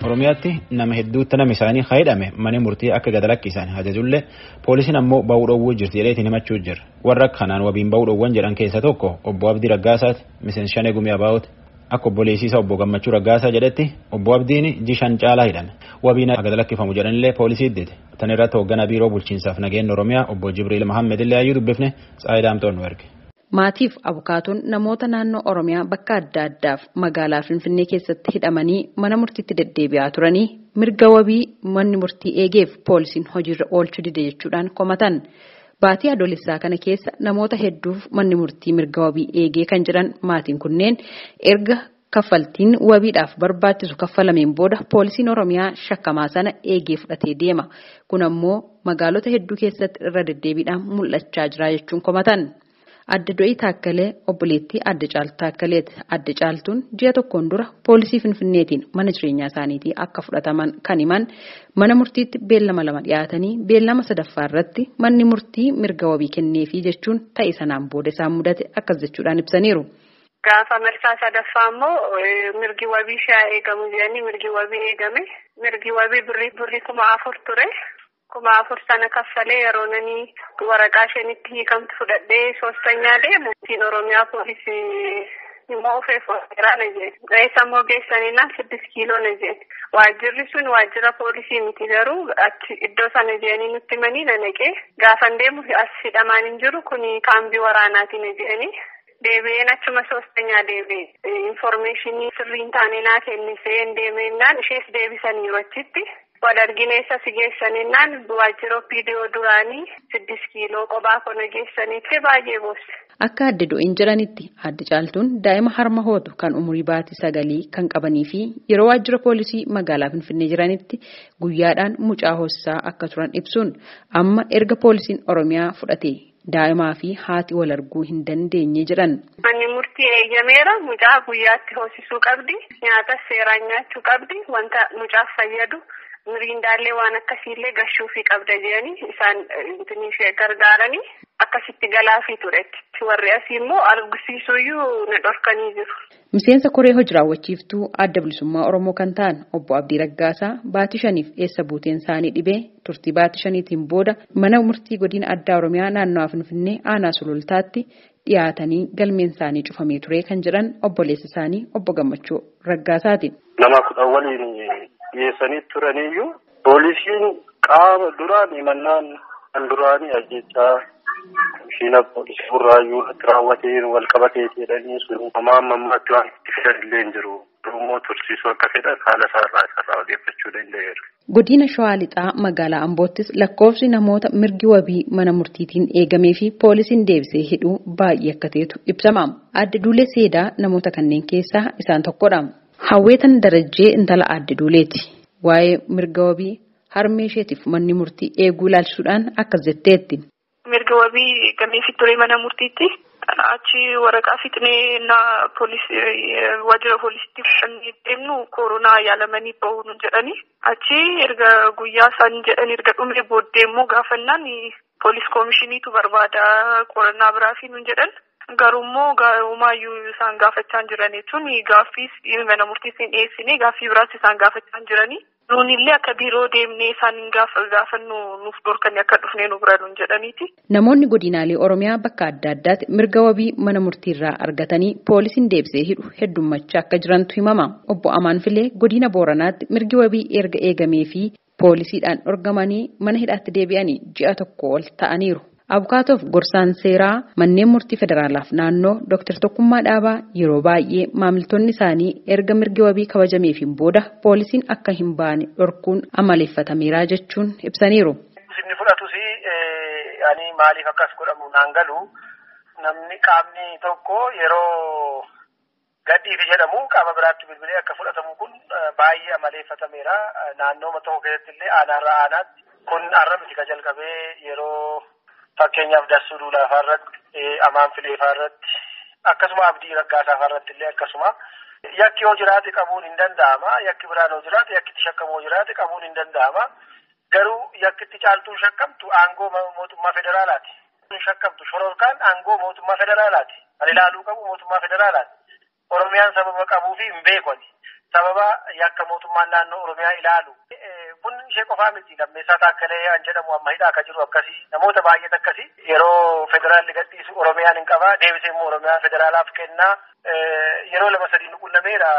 Oromiyaatti nama hedduutti nama isaanii hidhame mana murtii akka gad lakkisan ajajullee poolisiin ammoo ba'uu dhoowwuu jirti jedheetiin himachuu jira. Warra kanaan wabiin ba'uu dhoowwan jedhan keessaa tokko obbo Abdii Raggaasaati miseensa shanee gumii abaa'ooti. Akka obbo Leesiisaa obbo Gammachuu Raggaasaa jedhetti obbo Abdiin jishan caalaa hidhame. Wabiin akka gad lakkifamu jedhanillee poolisii iddite. Tan irratti hoogganaa biiroo bulchiinsaaf nageenya Oromiyaa obbo Jibriil Mahammed illee hayyuu dubbifne Tsaayidaamtoon nu erge. Maatiif abukaatoon namoota naannoo Oromiyaa bakka adda addaaf magaalaa Finfinnee keessatti hidhamanii mana murtiitti deddeebi'aa turanii mirga wabii manni murtii eegeef poolisiin hojiirra oolchuu dide jechuudhaan komatan. Baatii Adoolessaa kana keessa namoota hedduuf manni murtii mirga wabii eegee kan jedhan maatiin kunneen erga Kaffaltiin wabiidhaaf barbaachisu kaffalameen booda poolisiin Oromiyaa shakkamaa sana eegee fudhatee deema. Kun ammoo magaalota hedduu keessatti irra deddeebiidhaan mul'achaa jira jechuun komatan. Aadde Do'ii Taakkalee obboleettii Aadde Caaltuu Taakkaleeti. Aadde Caaltuun ji'a tokkoon dura poolisii Finfinneetiin mana jireenyaa isaaniitii akka fudhataman kan himan mana murtiitti beellama lama dhiyaatanii beellama sadaffaa irratti manni murtii mirga wabii kenneefii jechuun ta'e sanaan booda isaan mudate akkas jechuudhaan ibsaniiru. Gaafa marsaa sadaffaa immoo mirgi wabii ishee haa eegamu jedhanii mirgi wabii eegame. Mirgi wabii birrii birrii kuma afur ture. Kuma afur sana kaffalee yeroo nani waraqaa isheen itti hiikamtu fudhadhee soostanyaa deemu. Ittiin Oromiyaa poolisii immoo ofee fooseeraa na jedhe. Reessa immoo geessanina siddis kiiloo na jedhe. Waajjirri sun waajjira poolisii miti garuu achi iddoo sana jedhanii nutti himanii na naqee. Gaafan deemu as hidhamaan hin jiru kuni kaambii waraanaati na jedhanii. Deebi'een achuma soostanyaa deebi'e infoormeeshinii sirrii hin taane naa kenniseen deemeennaan ishees deebisaniiru achitti wal argine eessa si geessaninnaan waajjira opiidiyoo duraanii siddis kiiloo qobaa kona geessanii ta'e baay'ee boosse. Akka adde do'een jedhanitti adde caaltuun daa'ima harma hootu kan umurii baatii sagalii kan qabanii fi yeroo waajjira poolisii magaalaa Finfinnee jiranitti guyyaadhaan mucaa hoosisaa akka turan ibsuun amma erga poolisiin Oromiyaa fudhatee Daa'imaa fi haati wal arguu hin dandeenye jedhan. Manni murtii eeyyameera. Mucaa guyyaatti hoosisuu qabdi. Nyaatas seeraan nyaachuu qabdi. Wanta mucaaf fayyadu miriindaallee waan akkasiillee gashuufii qabda jedhanii isaan gargaaranii akkasitti galaafii ture. Warri asii immoo argisiisuuyyuu na dhorkanii jiru. Miseensa koree hoji-raawwachiiftuu Adda Bilisummaa Oromoo kan ta'an Obbo Abdii Raggaasaa baatii shaniif eessa buuteen isaanii dhibee turtii baatii shaniitiin booda mana murtii Godina Addaa Oromiyaa Naannawaa Finfinnee Aanaa Sulultaatti dhiyaatanii galmeen isaanii cufamee ture kan jedhan obboleessa isaanii Obbo Gammachuu Raggaasaati. Nama kudhan waliin dhiyeessanii turaniyyuu Poolisiin qaama duraan himannaan kan duraanii ajjechaa mishiina poolisii burraayyuu irratti raawwateen wal qabateeti jedhanii sun homaa amma ammaatti waan itti fidan illee hin jiru. Immoo tursiisuu akka fedhan haala isaarraa isarraa odeeffachuu danda'eera. Godina Shawaa Lixaa magaalaa Amboottis lakkoofsi namoota mirgi wabii mana murtiitiin eegamee fi poolisiin deebisee hidhuu baay'ee akka ta'etu ibsama. Aadde Duulee Seedaa namoota kanneen keessaa isaan tokkodha. Hawweetan Darajjee intala Aadde Duuleeti. Waa'ee mirga wabii harmee isheetiif manni murtii eeguu ilaalchisuudhaan akkas jetteetti. Mirga wabii eeggameefii ture mana murtiitti. Achi waraqaa fixnee ennaa waajjira poolisiitti fudhannee deemnu koronaa yaalamanii bahu nuun jedhani. Achi erga guyyaa isaan jedhan erga dhumee booddee immoo gaafannaan poolis komishiniitu barbaada qorannaa biraafii nuun jedhan. Garuu immoo gaa'umaayyuu isaan gaafachaa jiran jechuun gaaffiis mana murtiis hin dhiyeessine gaaffii biraas isaan gaafachaa jiranii. Nuunillee akka biiroo deemnee isaan hin gaafannu nuuf dhorkanii akka dhufnee nu bira nuun jedhaniiti. Namoonni godinaalee Oromiyaa bakka adda addaatti mirga wabii mana murtiirraa argatanii poolisiin deebisee hidhu heddummachaa akka jirantu himama. Obbo Amaan Filee godina Booranaatti mirgi wabii erga eegamee fi poolisiidhaan dhorgamanii mana hidhaatti deebi'anii ji'a tokko ol ta'aniiru. Abukaatoof gorsaan seeraa manneen murtii federaalaaf naannoo Dr. Tokkummaa Dhaabaa yeroo baay'ee maamiltoonni isaanii erga mirgi wabii kabajameefiin booda poolisiin akka hin baane dhorkuun amaleeffatameera jechuun ibsaniiru. Inni fudhatus ani maaliif akkas godhamu naan galu namni qaamni tokko yeroo Gadhiisi jedhamu qaama biraatti bilbilee akka fudhatamu kun baay'ee amaleeffatameera. Naannooma tokko keessatti illee aanaarraa aanaatti kun har'a miti ka jalqabee yeroo fakkeenyaaf dassuu duulaafaa irratti amaan fileefaa irratti akkasuma abdii raggaasaafaa irratti illee akkasuma yakki yoo jiraate qabuun hin danda'ama. Yakki biraan yoo jiraate yakki itti shakkamu yoo jiraate qabuun hin danda'ama. Garuu yakki itti caaltuun shakkamtu aangoo mootummaa federaalaati. shakkamtu shororkaan aangoo mootummaa federaalaati. Kan ilaaluu qabu mootummaa federaalaati. Oromiyaan sababa qabuu fi hin beeku ati. Sababa yakka mootummaan naannoo Oromiyaa ilaalu. Kun ishee qofaa miti. Lammeessaa Taakkalee an jedhamu amma hidhaa akka jiru akkasii. Namoota baay'eet akkasii. Yeroo federaalli gadhiisu Oromiyaan hin qabaa. Deebisee immoo Oromiyaa federaalaaf kennaa. Yeroo lama sadii nu qunnameera.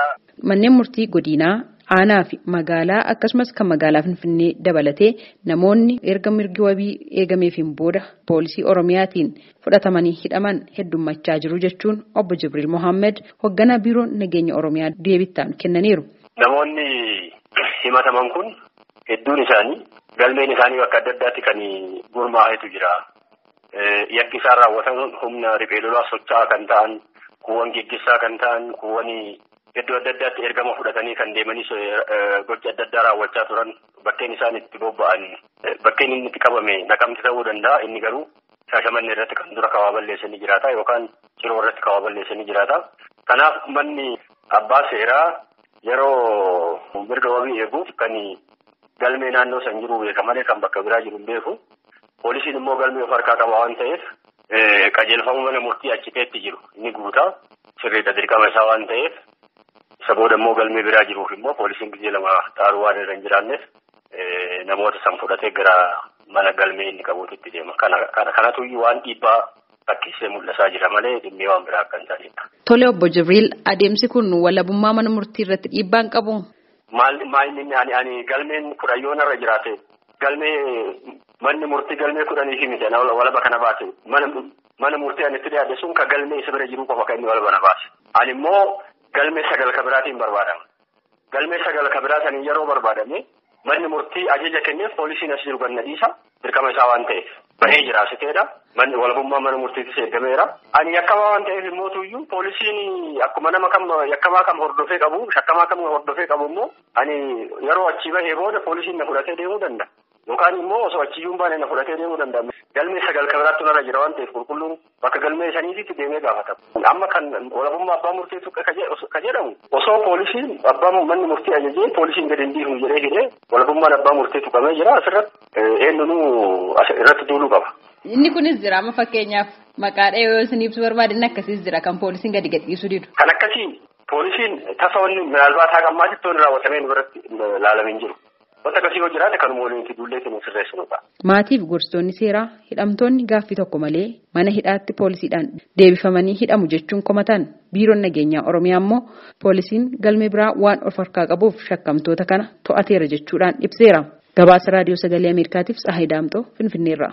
Manneen murtii godiinaa, aanaa fi magaalaa akkasumas kan magaalaa Finfinnee dabalatee namoonni erga mirgi wabii eegameefiin booda poolisii Oromiyaatiin fudhatamanii hidhaman heddummachaa jiru jechuun obbo Jibriil Mohaammed hogganaa biiroo nageenya Oromiyaa deebittaanu kennaniiru. Namoonni himataman kun hedduun isaanii galmeen isaanii bakka adda addaatti kan gurmaa'etu jira. Yakki isaan raawwatan humna riphee lolaa socho'aa kan ta'an kuuwwan geggessaa kan ta'an kuuwwan iddoo adda addaatti ergama fudhatanii kan deemanii gocha adda addaa raawwachaa turan bakkeen isaan itti bobba'an bakkeen inni itti qabame naqamti ta'uu danda'a inni garuu shaashamanne irratti kan dura kawaa balleessanii jiraata yookaan ciroo irratti kawaa balleessanii jiraata. Kanaaf manni abbaa seeraa yeroo mirga wabii eeguuf kan galmee naannoo san jiru beeka malee kan bakka biraa jiru hin beeku. Poolisiin immoo galmee of harkaa qaba waan ta'eef qajeelfama mana murtii achi ta'etti jiru ni guuta. Sirriidha dirqama isaa waan ta'eef isa booda immoo galmee biraa jiruuf immoo poolisiin gizee lama xaaruu waan irra hin jiraanneef namoota san fudhatee gara mana galmee inni qabuutitti deema. Kanatu waan dhiibbaa fakkeessee mul'isaa jira malee dhimmee waan biraa akka hin taanedha. Tole obbo Jibriil adeemsi kun walabummaa mana murtii irratti dhiibbaan qabu? Maal maayinni ani ani galmeen kudhan yoo narra jiraate galmee manni murtii galmee kudhanii fi miti walaba kana baase mana mana murtii ani itti dhiyaate sun ka galmee isa bira jiruu qofa kan inni walaba na baase. Ani immoo galmee sagal ka biraatiin barbaadama. Galmee sagal ka biraa saniin yeroo barbaadame manni murtii ajaja kenneef poolisiin as jiru gad na dhiisa. dirqama isaa waan ta'eef bahee jira asiteedha. Manni walabummaa mana murtiitis eegameera. Ani yakkamaa waan ta'eef immoo tuyyuu poolisiin akkuma nama kam yakkamaa kam hordofee qabu shakkamaa kam hordofee qabu immoo ani yeroo achii bahee booda poolisiin na fudhatee deemuu danda'a. Yookaan immoo osoo achiyyuu hin baane na fudhatee deemuu danda'a. Galmee sagal kan biraatti narra jira waan ta'eef qulqulluun bakka galmee saniititti deemee gaafatama. Amma kan walabummaa abbaa murtee tuqe ka jedhamu osoo poolisiin abbaa manni murtii ajajee poolisiin gadi hin dhiifnu jedhee hidhee walabummaan abbaa murtee tuqamee jira asirratti eenyunuu irratti duuluu qaba. Inni kunis jira amma fakkeenyaaf maqaa dhahee yoo isin ibsu barbaade inni akkasiis jira kan poolisiin gadi gadhiisuu didu. Kan akkasii poolisiin tasa wanni minaalbaat haqa ammaatitti wanni raawwatamee nu biratti laalamee hin jiru. Wanta akkasii yoo jiraate kanuma waliin itti duullee ittiin sirreessinudha. Maatii fi gorsitoonni seeraa hidhamtoonni gaaffii tokko malee mana hidhaatti poolisiidhaan deebifamanii hidhamu jechuun komatan. Biiroon nageenyaa Oromiyaa immoo poolisiin galmee biraa waan of harkaa qabuuf shakkamtoota kana to'ateera jechuudhaan ibseera. Gabaasa Raadiyoo Sagalee Ameerikaatiif Tsahaay Daamxoo Finfinneerraa.